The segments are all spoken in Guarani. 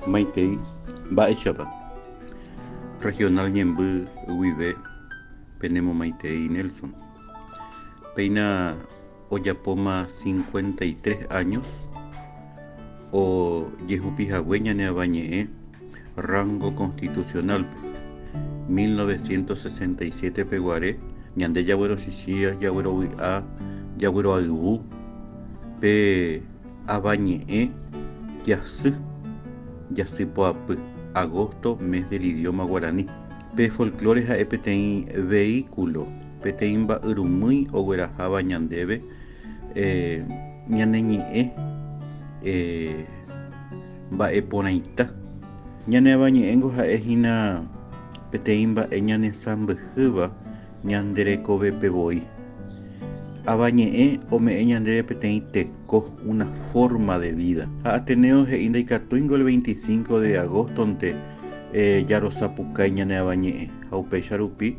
Maitei, mba'éichapa? Regional ñemby guive penemomaitei Nelson. Péina ojapóma cincuenta y tres áños ojehupi hague ñane Avañe'ẽ rángo konstitusionálpe, mil novecientos sesenta y siete peguare ñande jaguerochichĩ jaguerovy'a jagueroayvu pe Avañe'ẽ jasy jasypoapy, agosto, mes del idioma guaraní. Pe folklore ha'e peteĩ veíkulo peteĩ mba'yrumýi ogueraháva ñandéve ñane ñe'ẽ mba'e porãita. Ñane Avañe'ẽngo ha'e hína peteĩ mba'e ñanesãmbyhýva ñande rekovépe voi. Avañe'ẽ ome'ẽ ñandéve peteĩ teko, una forma de vida. Ha Ateneo he'i ndaikatúingo el 25 de agosto-nte jarosapukái ñane Avañe'ẽ ha upéicha rupi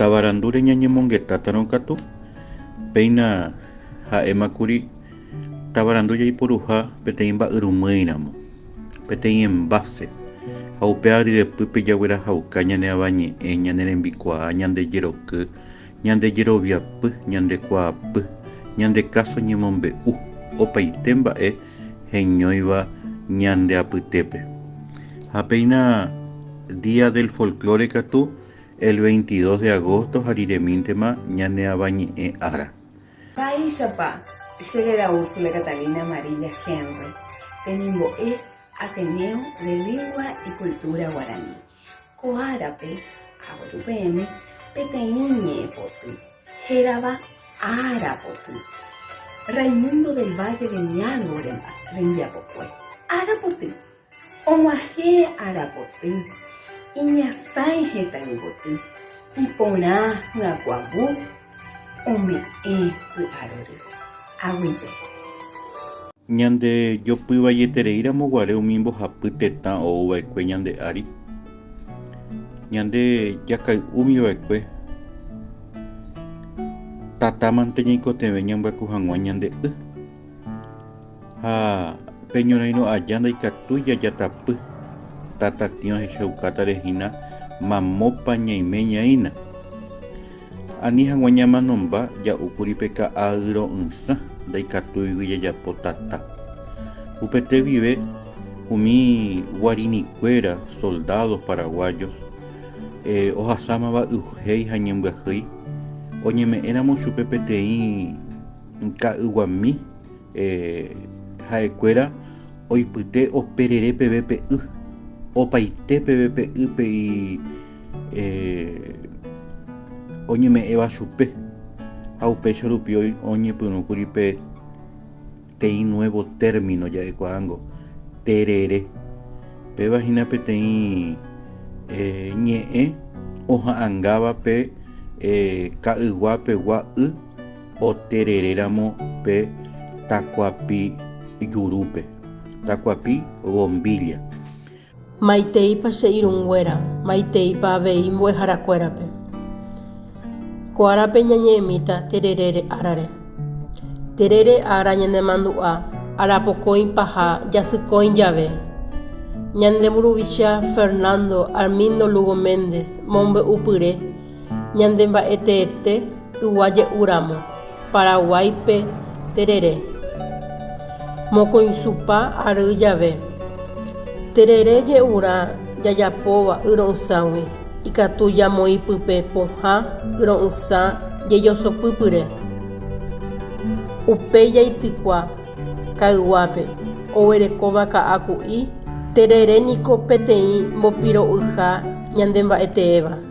Tavarandúre ñañemongetátarõ katu, péina ha'éma kuri tavarandu jaiporuha peteĩ mba'yrumýiramo, peteĩ enváse, ha upéva ryepýpe jaguerahauka ñane avañe'ẽ, ñane rembikuaa, ñande jeroky, ñande jeroviapy, ñande kuaapy, ñande káso ñemombe'u, opaite mba'e heñóiva ñande apytépe. Ha péina Día del Folklore katu el 22 de agosto ha riremíntema ñane Avañe'ẽ ára. Mba'éichapa che reraúsi la Catalina Amarilla Henry temimbo'e Ateneo de Lingua y Cultura Guaraní. Ko árape agueru peẽme peteĩ ñe'ẽpoty hérava Ára poty, Raimundo del Valle de mi Algo rembiapokue. Ára poty, og̃uahẽ ára poty, iñasãi hetãyvoty, iporã hyakuãvu, Ome'ẽ py'arory aguije. Ñande jopyvaieterei ramo guare umi mbohapy tetã ou vaekue ñande ári, ñande jakay'úmi vaekue Tatámante ñaikotevẽ ñambyakyu hag̃ua ñande y. Ha pe ñorairõ aja ndaikatúi jajatapy, tatatĩ ohechaukátare hína mamópa ñaime ñaína. Ani hag̃ua ñamanomba ja'úkuri pe ka'ayro'ỹsã ndaikatúigui jajapo tata. Upete guive umi guarinikuéra soldados paraguayos ohasámava yvhéi ha ñembyahýi, oñeme'ẽramo chupe peteĩ ka'yguami ha'ekuéra oipyte operere peve pe y, opaite peve pe y pe y oñeme'ẽva chupe, ha upéicha rupi oñepyrũkuri pe teĩ nuevo término ja'ekuaángo, terere. Péva hína peteĩ ñe'ẽ oha'angáva pe ka'ygua pegua y. Otereréramo pe takuapi jurúpe. Takuapi bombilla. Maiteipa che irũnguéra. Maiteipa avei mbo'eharakuérape. Ko árape ñañe'ẽmíta tererére árare. Terere ára ñanemandu'a arapokõi paha jasykõi jave. Ñande mburuvicha Fernando Armindo Lugo Méndez mombe'upyre. Ñande mba'e teete ygua je'u ramo, Paraguáipe terere. Mokõichupa ary jave, terere je'urã jajapóva y ro'ysãgui, ikatu jamoĩ pype pohã y ro'ysã jejosopy pyre. Upéi jaitykua kayguápe oguerekóva ka'aku'i, terere niko peteĩ mbopiro'yha ñande mba'e teéva.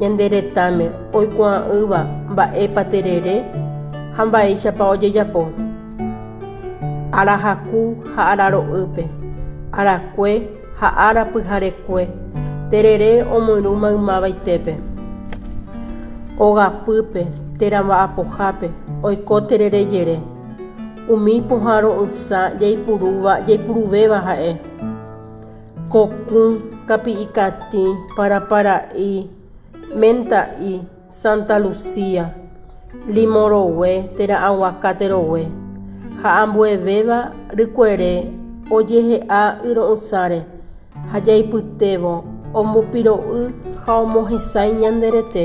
Ñande retãme oikuaa'ỹva mba'épa terere ha mba'éichapa ojejapo. Arahaku ha araro'ýpe, arakue ha ára pyharekue, terere omyrũ maymavaitépe. Ogapýpe térã mba'apohápe oiko terere jere. Umi pohã ro'ysã jaipurúva jaipuruvéva ha'e. Kokỹ, kapi'ikatĩ, parapara'y, menta'y, Santa Lucía, limo rogue, térã aguacate rogue, ha ambuevéva rykuere ojehe'a yro'ysãre ha jaipytévo ombopiro'y ha omohesãi ñande rete.